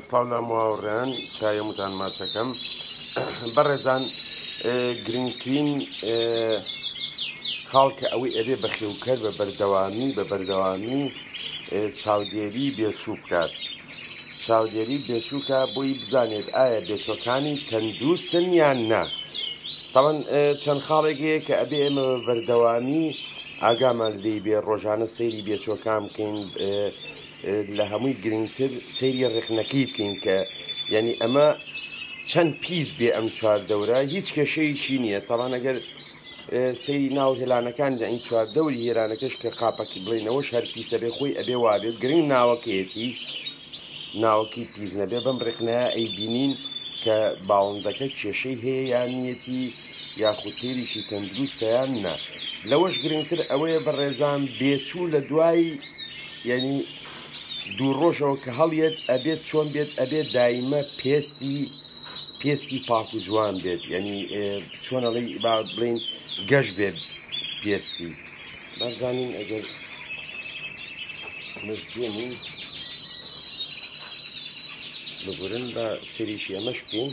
سڵاو لە ماوڕیان چایە وتان ماچەکەم بەڕێزان گرنگترین خاڵکە ئەوەی ئەبێ بەخێوکەر بە بەردەوامی بە بەردەوامی چاودێری بێچوو بکات چاودێری بێچووکە بۆی بزانێت ئایا بێچۆکانی تەندروستن یان نا تاوان چەند خاڵێک هەیە کە ئەبێ ئێمە بەردەوامی ئاگامان لی بێ ڕۆژانە سەیری بێچۆکان بکەین لە هەمووی گرنگتر سەیری ڕێخنەکەی بکەین کە یعنی ئەمە چەند پیس بێ ئەم چوار دەورە هیچ کێشەیەکی نییە تاوانەگەر سەیری ناو هێلانەکان لە ئەین چوار دەوری هێرانەکەش کە قاپەکی بڵێنەوەش هەر پیسە بێ خۆی ئەبێ وابێ گرنگ ناوەکەیەتی ناوەکی پیس نەبێ بەم ڕێکنە ئەی بینین کە باڵندەکە کێشەی هەیە یانیەتی یاخود تێریشی تەندروستیان نا لەوەش گرنگتر ئەوەیە بە ڕێزان بێچوو لە دوای یەعنی دوو ڕۆژەوە کە هەڵیەت ئەبێت چۆن بێت ئەبێت دایمە پێستی پێستی پاک و جوان بێت یعنی چۆنەڵی با بڵین گەش بێت پێستی بەزانین ئەگەر مردێنین بگورن بە سریشی ئەمەش بکەین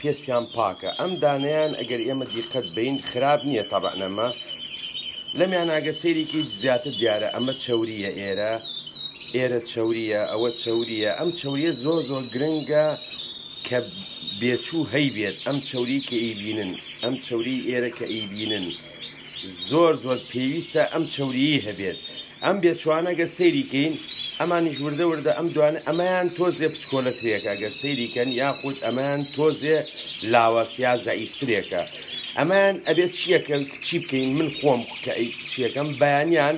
پیسیان پاکە ئەم دانەیان ئەگەر ئێمە دیقەت بین خراپ نییە تەبەنەمە لەمیان ئاگە سەیرێکی زیاتر دیارە ئەمە چوریە ئێرە ئێرە چوریە ئەوە چوریە ئەم چوریە زۆ زۆ گرنگە کە بێچوو هەیبێت ئەم چوری کە ئیبینن ئەم چوری ئێرە کە ئیبینن. زۆر زۆر پێویستە ئەم چەوریی هەبێت ئەم بێچوانە گە سەیری کەین ئەمانیش وردە وردە ئەم دوانە ئەمەیان تۆزێ پچکۆلەترێکە گە سەیری کەن یاخود ئەمەیان تۆزێ لاواسیا زەعیفترێکە ئەمەیان ئەبێت چیەکە چی بکەین من خۆم کە چیەکەم بەیانیان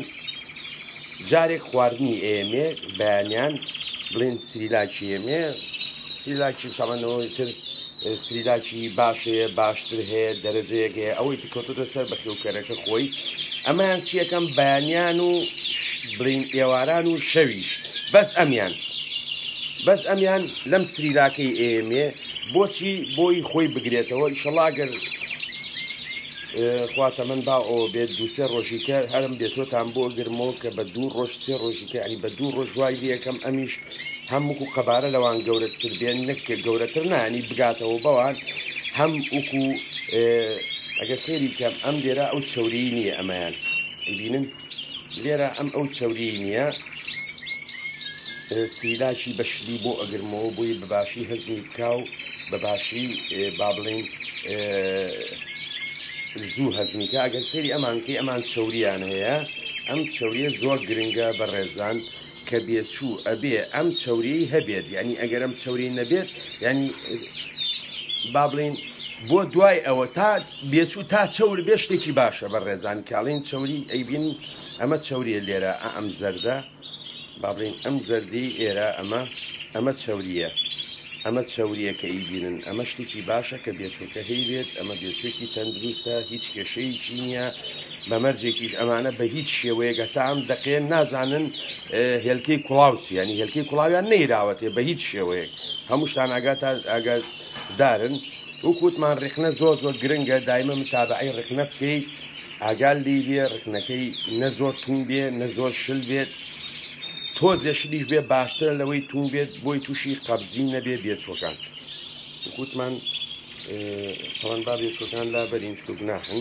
جارێک خواردنی ئێمێ بەیانیان بڵێن سریلاکی ئێمێ سریلاکی تەمەەوەی تر سریلاکی باشەیە باشتر هەیە دەرەجەیەک هەیە ئەوەی تکەوتۆتە سەر بە خێوکەرەکە خۆی ئەمەیان چیەکەم بەیانیان و بڵین ئێواران و شەویش بەس ئەمیان بەس ئەمیان لەم سریلاکەی ئێمێ بۆچی بۆی خۆی بگرێتەوە ئیشەڵاگەر خوا تەمەن با ئەوە بێت دوو سێ ڕۆژیکە هەرم بێتۆتان بۆ گرمەوە کە بە دوو ڕۆژ سێ ڕۆژیکە ئەنی بە دوو ڕۆژ وای لەکەم ئەمیش هەم وکو قەبارە لەوان گەورەتر بێن نەک گەورەتر نانی بگاتەوە بەوان هەم وکو ئەگە سێری کەم ئەم لێرە ئەو چوری نییە ئەمەیان بینن. لێرە ئەم ئەو چەوریی نییە سیلاکی بەشلی بۆ ئەگرمەوە بۆی بەباشی هەزمی بکا و بەباشی با بڵین زوو هەزمیکە ئەگەر سەیری ئەمانکەی ئەمان چەوریان هەیە ئەم چەوریە زۆر گرنگە بە ڕێزان کە بێچوو ئەبێ ئەم چەوریی هەبێت ینی ئەگەر ئەم چەوری نەبێت ینی با بڵین بۆ دوای ئەوە تا بێچوو تا چەور بێ شتێکی باشە بەڕێزان کاڵین چەوری ئەیبین ئەمە چەوریە لێرە ئە ئەم زەردە بابرین ئەم زەردی ئێرە ئەمە ئەمە چەوریە ئەمە چەوریە کە ئیبینن ئەمە شتێکی باشە کە بێچووکە هەیبێت ئەمە بێچوێکی تەندروستە هیچ کێشەیەکی نییە بەمەرجێکیش ئەمانە بە هیچ شێوەیەگە تام دەقێن نازانن هێلکەی کوڵاوچی ینی هێلکەی کوڵاویان نەیراوەتێ بە هیچ شێوەیەک هەمووشتان ئاگات ئاگات دارن وەک وتمان ڕیخنە زۆر زۆر گرنگە دایمە متابعی ڕخنە بکەیت ئاگال لی بێ ڕخنەکەی نە زۆر تون بێ نە زۆر شل بێت تۆزێ شلیش بێ باشترە لەوەی تون بێت بۆی تووشی قەبزی نەبێ بێچوەکان وکوتمان تەوان با بێچوەکان لابەرین چکە گوناحن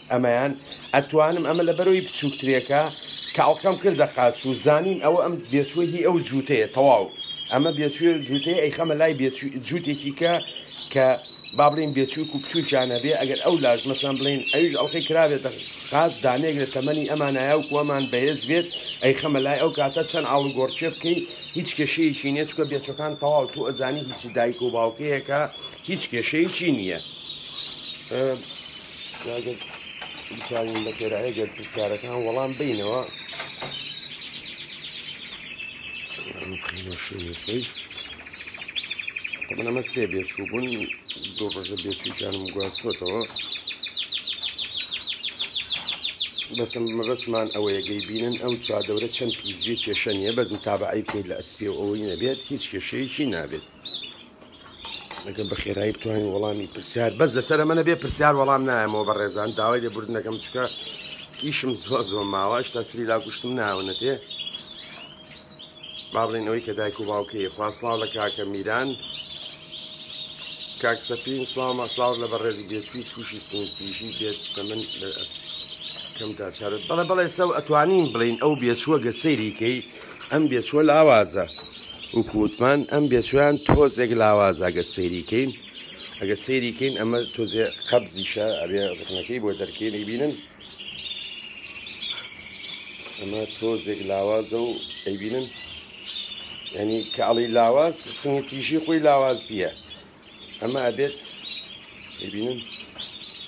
ئەمەیان ئەتوانم ئەمە لە بەرەوی بچوکترێکە کاڵکەم کردە قاچ و زانیم ئەوە ئەم بێچوە هی ئەو جووتەیە تەواو ئەمە بێچوێ جووتەیە ئەی خەمە لای جووتێکی کە کە با بڵین بێچووک و بچووکیان هەبێ ئەگەر ئەو لاش مەسان بڵین ئەویش ئەڵلقەی کرابێتە قاچ دانێک لە تەمەنی ئەمان نایاو کوەمان بەهێز بێت ئەی خەمە لای ئەو کاتە چەند ئاڵوگۆڕچێ بکەین هیچ کێشەیەکی نیە چکە بێچەکان تەواو تو ئەزانی هیچی دایک و باوکەیەکە هیچ کێشەیەکی نییە بتوانین بە خێرایە گەر پرسیارەکان وەڵام بینەوە بخینەشوێنەکەی تەمەەمە سێ بێچوو بوون دوو ڕژە بێچووکیانم گواستۆتەوە بەسم مەبەسمان ئەوەیەگەی بینن ئەو چادەورە چەند پیزوی کێشە نیە بەس متابعی بکەیت لە ئەسپێ ئەوەی نەبێت هیچ کێشەیەکی نابێت ئەگەر بە خێرایی بتوانین وەڵامی پرسیار بەس لەسەر ئەمە نەبێ پرسیار وەڵام نایەمەوە بە ڕێزان داوای لێبوردن دەکەم چکە ئیشم زۆر زۆر ماوە هشتا سری لا گوشتم ناونەتێ بابڵین ئەوەی کە دایک و باوکەیە خواسڵاو لە کاکە میران کاک سەفین سلااو ماسلااو لە بەڕێزی بێچوی تووشی سنگپیشی بێت کە من کەمدا چارت بەڵێ بەڵێ سەو ئەتوانین بڵین ئەو بێچووە گە سەیریکەی ئەم بێچوە لاوازە وکو وتمان ئەم بێچویان تۆزێک لاواز ئەگە سەیریکەین ئەگە سەیریکەین ئەمە تۆزێ قەبزیشە ئەبێ ڕخنەکەی بۆ دەرکەی بینن ئەمە تۆزێک لاوازە و ئەیبینن ینی کاڵی لاواز سنگی تیژی خۆی لاوازیە ئەمە ئەبێت ببینن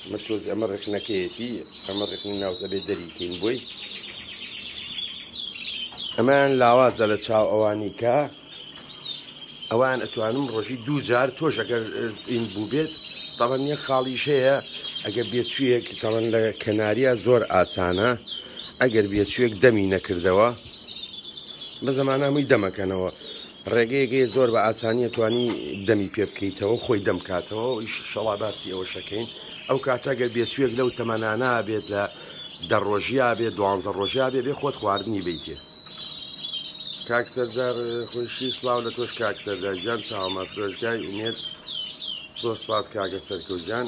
ئەمە تۆز ئەمە ڕێکنەکەیەتی ئەمە ڕێکنی ناوز ئەبێت دەریکەین بۆی ئەمەیان لاوازە لە چاو ئەوانی کە ئەوان ئەتوانم ڕۆژی دوو جار تۆش ئەگەر ئین بوو بێت تاڵەن یەک خاڵیشەیە ئەگەر بێچوویەک تاڵەن لە کەناریە زۆر ئاسانە ئەگەر بێچوویەک دەمی نەکردەوە بە زمانامووی دەمەکەنەوە ڕێگەیەک هەیە زۆر بە ئاسانی ئەتوانی دەمی پێ بکەیتەوە خۆی دەم کاتەوە شەڵا باسی ئەوەشەکەین ئەو کاتە گەر بێچوویەک لەو تەمەنانا بێت لە دە ڕۆژیا بێ دوانزە ڕۆژیا بێ بێ خۆت خواردنی بیتێ کاک سەردار خۆشی سلااو لە تۆش کاک سەردار گیان چاوەمە فرۆشگای ئومێت زۆر سپاس کاکە سەرکەوتگیان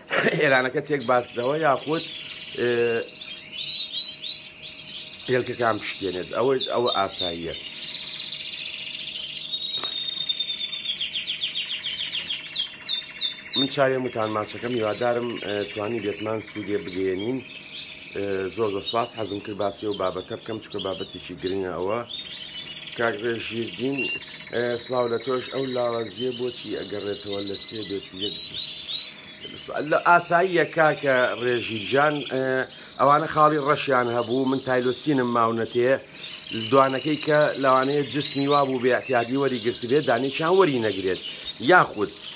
ئێرانەکە تێک باتنەوە یاخود هێلکەکان پشتێنێت ئەوەی ئەوە ئاساییە من چاوێ متان ماچەکەم هیوادارم توانی بێتمان سوودێ بگەێنین زۆر زۆر سپاس حەزم کرد باسی و بابەتە بکەم چکە بابەتێکی گرنگە ئەوە کاک ڕێژیردین سلااو لە تۆش ئەو لاوازیە بۆچی ئەگەڕێتەوە لە سێ بێت و یەک لە ئاساییە کاکە ڕێژیجان ئەوانە خاڵی ڕەشیان هەبوو من تایلۆسینم ماونەتێ دوانەکەی کە لەوانەیە جسمی وا بوو بێعتیادی وەری گرتبێت دانێکیان وەری نەگرێت یاخود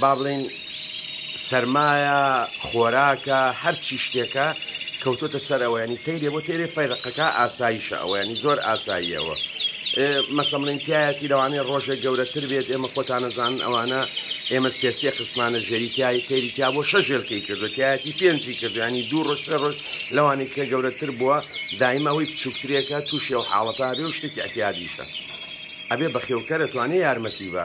بابڵێین سەرمایە خۆراکە هەرچی شتێکە کەوتۆتە سەر ئەوە ینی تەیرێ بۆ تێرێ فەیرقەکە ئاساییشە ئەوە ینی زۆر ئاساییەوە مەسەمڵین تایەتی لەوانەیە ڕۆژێک گەورەتر بێت ئێمە خۆتانەزان ئەوانە ئێمە سێسیە خسمانە ژێریتیایی تێریتیا بۆ شەژێلکەی کردو تایەتی پێنجی کردوانی دوو ڕۆژ سێ ڕۆژ لەوانی کە گەورەتر بووە دایمە ئەوی بچووکترێکە تووشی و حاڵەتە بێ و شتێکی ئەتیادیشە ئەبێ بەخێوکەرە توانێ یارمەتی بە